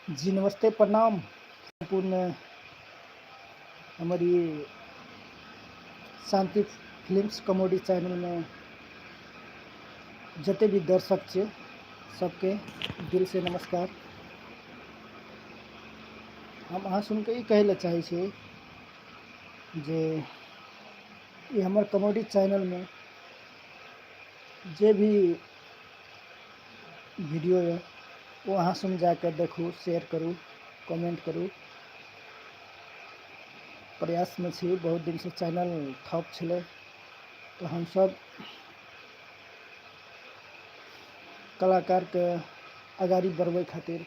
जी नमस्ते प्रणाम सम्पूर्ण हमारी शांति फिल्म्स कॉमेडी चैनल में जते भी दर्शक छे सबके दिल से नमस्कार हम अहाँ सुनके ई कहै लए चाहै छी जे ई हमर कॉमेडी चैनलमे जे भी वीडियो यऽ ओ अहाँ सुन जाके देखू शेयर करू कमेंट करू प्रयास में छी बहुत दिन से चैनल ठप छलै तऽ हमसब कलाकारके आगाड़ी बढ़बै खातिर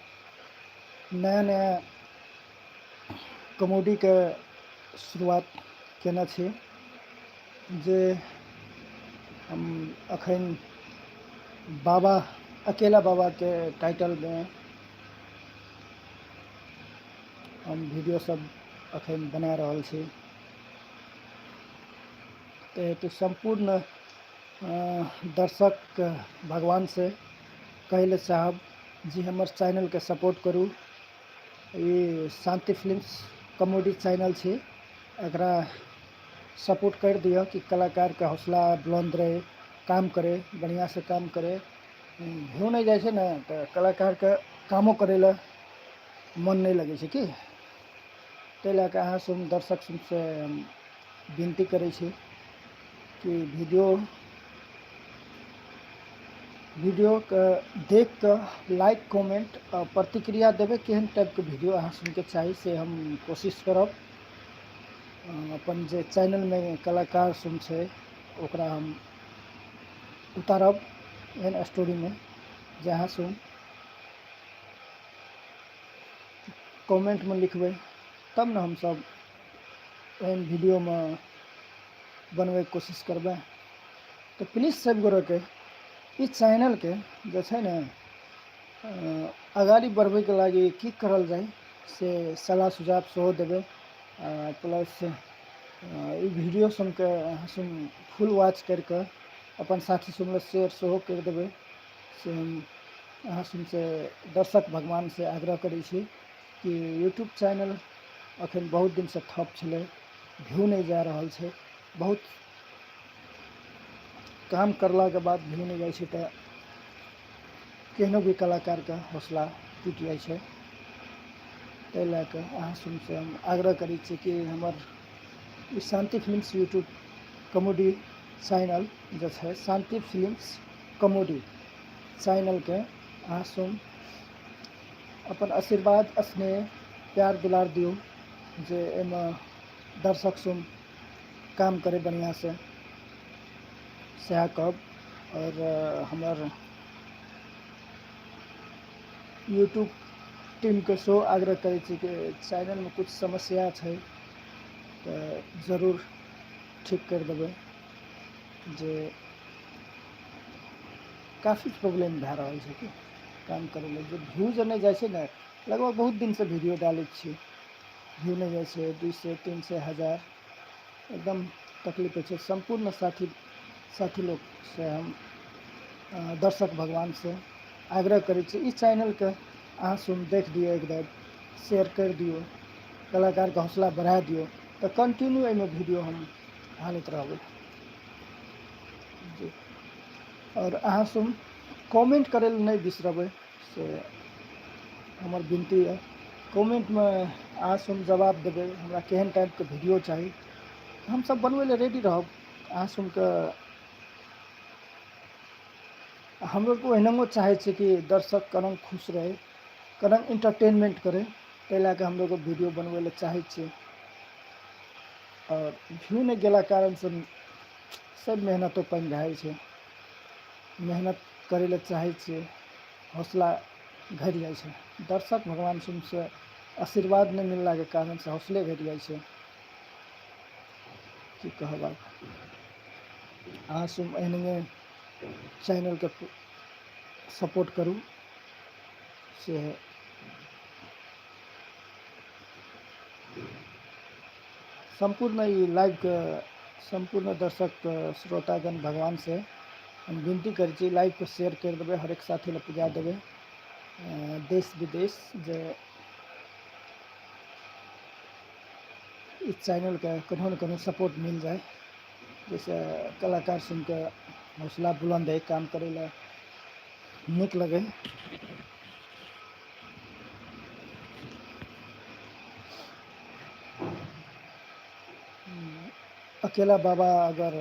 नया नया कॉमेडीके शुरुआत कयने छी जे हम एखन बाबा अकेला बाबाके टाइटलमे हम वीडियोसभ एखन बना रहल छी ताहि हेतु सम्पूर्ण दर्शक भगवानसँ कहय लेल चाहब जे हमर चैनलकेँ सपोर्ट करू ई शान्ति फिल्म्स कॉमेडी चैनल छी एकरा सपोर्ट करि दिअ कि कलाकारके हौसला बुलन्द रहय काम करय बढ़िआँसँ काम करय भ्यू नहि जाइ छै ने तऽ कलाकारके कामो करय लए मोन नहि लगय छै की तै लए कऽ अहाँ सुन दर्शक सुनसँ विनती करै छी कि वीडियो वीडियोके देख कऽ लाइक कमेंट आ प्रतिक्रिया देबै केहन टाइपके वीडियो अहाँ सुनके चाही से हम कोशिश करब अपन जे चैनलमे कलाकार सुन छै ओकरा हम उतारब एहन स्टोरीमे जे अहाँ सुन कमेंटमे लिखबै तब ने हमसभ एहन वीडियोमे बनबैके कोशिश करबै तऽ प्लीज सब गोरेके ई चैनलके जे छै ने अगाड़ी बढ़बैके लागि की करल जाय से सलाह सुझाव सेहो देबै प्लस ई वीडियो सुनके सुन फुल वॉच करिके अपन साथी सुनले शेयर सेहो करि देबै से हम अहाँ सुनसे दर्शक भगवानसँ आग्रह करै छी कि यूट्यूब चैनल अखन बहुत दिनसँ ठप छलै व्यू नहि जा रहल छै बहुत काम करलाके बाद व्यू नहि जाइ छै तऽ केहनो भी कलाकारके हौसला टूटि जाइ छै ताहि लए कऽ अहाँ सुनसँ हम आग्रह करै छी कि हमर ई Shanti films YouTube comedy channel जे छै शान्ति फिल्म्स कॉमेडी चैनलके अहाँ सुन अपन आशीर्वाद स्नेह प्यार दुलार दियौ जे एहिमे दर्शक सुन काम करै बढ़िआँसँ सएह कहब आओर हमर यूट्यूब टीमके सेहो आग्रह करै छी कि चैनलमे किछु समस्या छै तऽ जरूर ठीक करि देबै जे काफी प्रॉब्लम भए रहल छै कि काम करै लए जे व्यू जे नहि जाइ छै ने लगभग बहुत दिनसँ वीडियो डालै छियै व्यू नहि जाइ छै दू सए तीन सए हजार एकदम तकलीफ होइ छै सम्पूर्ण साथी साथी लोकसँ हम दर्शक भगवानसँ आग्रह करै छी ई चैनलके अहाँ सुन देख दियौ एक बेर शेयर करि दियौ कलाकारके हौसला बढ़ा दियौ तऽ कंटिन्यू एहिमे वीडियो हम आनैत रहबै जी आओर अहाँ सब कमेन्ट करै लए नहि बिसरबै से हमर विनती यऽ कमेन्टमे अहाँ सब जवाब देबै हमरा केहन टाइपके वीडियो चाही हमसब बनबै लए रेडी रहब अहाँ सबके हमरो तऽ ओहिनाओ चाहै छै कि दर्शक कनी खुश रहै कनी इंटरटेनमेंट करै ताहि लए कऽ हमलोग वीडियो बनबै लए चाहै छियै आओर व्यू नहि गेला कारणसँ सब मेहनतो पानि भए जाइ छै मेहनत करै लए चाहै छियै हौसला घटि जाइ छै दर्शक भगवान सिंहसँ आशीर्वाद नहि मिललाके कारणसँ हौसले घटि जाइ छै की कहब आब अहाँ सब एहने चैनलके सपोर्ट करू से सम्पूर्ण ई लाइवके सम्पूर्ण दर्शक श्रोतागण भगवानसँ हम विनती करै छी लाइवके शेयर करि देबै हरेक साथी लए पुजा देबै देश विदेश जे ई चैनलके कोनो ने कोनो सपोर्ट मिल जाए जैसे कलाकार सुनिके हौसला बुलन्द है काम करै लए नीक लगै अकेला बाबा अगर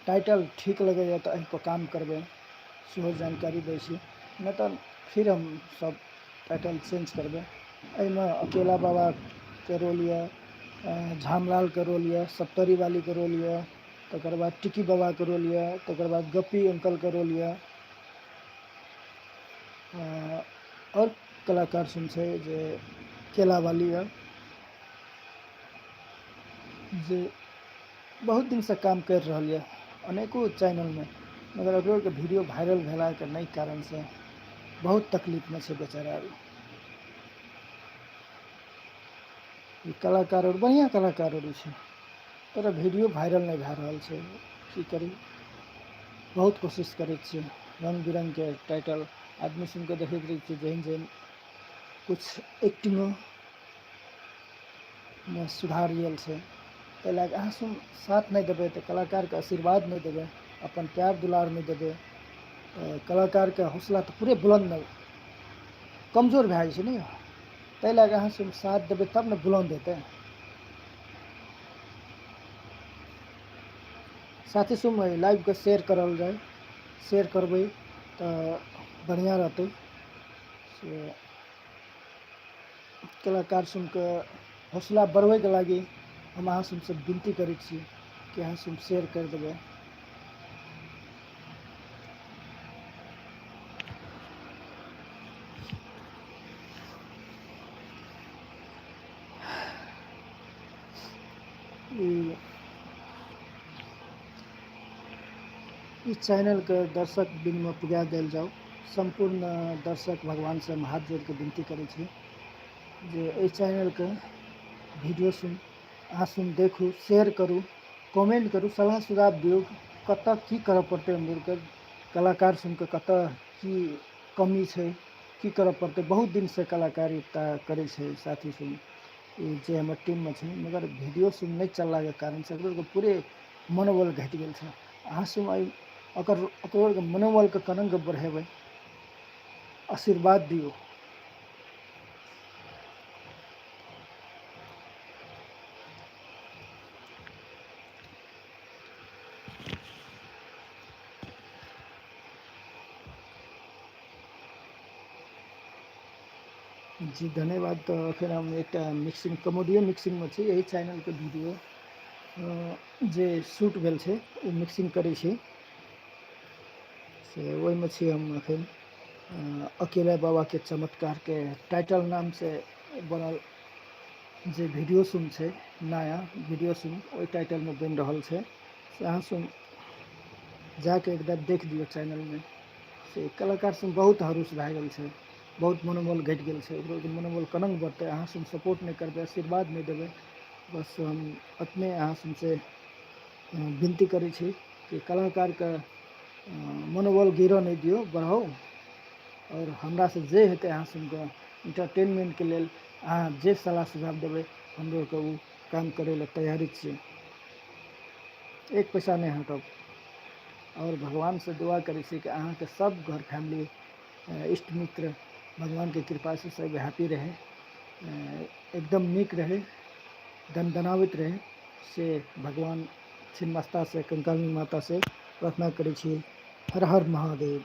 टाइटल ठीक लगैए तऽ एहिपर काम करबै सेहो जानकारी दै छी नहि तऽ फिर हम सब टाइटल चेंज करबै एहिमे अकेला बाबाके रोल यए झामलालके रोल यए सप्तरी वालीके रोल यए तकर बाद टिकी बाबाके रोल यए तकर बाद गप्पी अंकलके रोल यए आओर कलाकार सब छै जे केला बाली यऽ जे बहुत दिनसँ काम करि रहल यऽ अनेको चैनलमे मगर ओकरोके वीडियो वायरल भेलाके नहि कारणसँ बहुत तकलीफमे छै बेचारा अभी ई कलाकार आओर बढ़िआँ कलाकार आओर छै तोरा वीडियो वायरल नहि भए रहल छै की करी बहुत कोशिश करै छियै रङ्ग बिरङ्गके टाइटल आदमी सुनिके देखैत रहै छियै जेहन जेहन किछु एक्टिंगो मे सुधार आयल छै ताहि लए कऽ अहाँ सुन साथ नहि देबै तऽ कलाकारके आशीर्वाद नहि देबै अपन प्यार दुलार नहि देबै तऽ कलाकारके हौसला तऽ पूरे बुलन्द नहि कमजोर भए जाइ छै ने ताहि लए कऽ अहाँ सुन साथ देबै तब ने बुलन्द हेतै साथी सुन लाइवके शेयर करल जाय शेयर करबै तऽ बढ़िआँ रहतै से कलाकार सुनके हौसला बढ़बैके लागी हम अहाँ सबसे विनती करै छी कि अहाँ सब शेयर करि देबै ई ई चैनलके दर्शक बिनमे पुजा देल जाउ सम्पूर्ण दर्शक भगवानसँ हम हाथ जोड़िके विनती करै छी जे एहि चैनलके वीडियो सुन अहाँ सुन देखू शेयर करू कमेंट करू सलाह सुझाव दियौ कतऽ की करऽ पड़तै हमलोगके कलाकार सुनके कतऽ की कमी छै की करऽ पड़तै बहुत दिनसँ कलाकारिता करै छै साथी सुन जे हमर टीममे छै मगर वीडियो सब नहि चललाके कारण से ओकर पूरे मनोबल घटि गेल छै अहाँ सब एहि ओकर ओकर मनोबलके केना कऽ बढ़ेबै आशीर्वाद दियौ जी धन्यवाद तो फिर हम एक मिक्सिंग कमोडियो मिक्सिंग में छी यही चैनल के वीडियो जे शूट भेल छे वो मिक्सिंग करे छी से वही में छी हम अखन अकेला बाबा के चमत्कार के टाइटल नाम से बनल जे वीडियो सुन छे नया वीडियो सुन वही टाइटल में बन रहा है से अहाँ सुन जाके एक बार देख दियो चैनल में से कलाकार सब बहुत हरूस भए गेल छै बहुत मनोबल घटि गेल छै ओकरो मनोबल कोना बढ़तै अहाँ सब सपोर्ट नहि करबै आशीर्वाद नहि देबै बस हम अपने अहाँ सबसे विनती करै छी कि कलाकारके मनोबल गिरऽ नहि दियौ बढ़ाउ आओर हमरा से जे हेतै अहाँ सबके इंटरटेनमेंटके लेल अहाँ जे सलाह सुझाव देबै हमलोगके ओ काम करै लए तैयारी छियै एक पैसा नहि हटब आओर भगवानसँ दुआ करै छी कि अहाँके सब घर फैमिली इष्ट मित्र भगवानके कृपासँ सब हैप्पी रहै एकदम नीक रहै दनदनाबैत रहै से भगवान छिन्नमस्तासँ कंकाली मातासँ प्रार्थना करै छी हर हर महादेव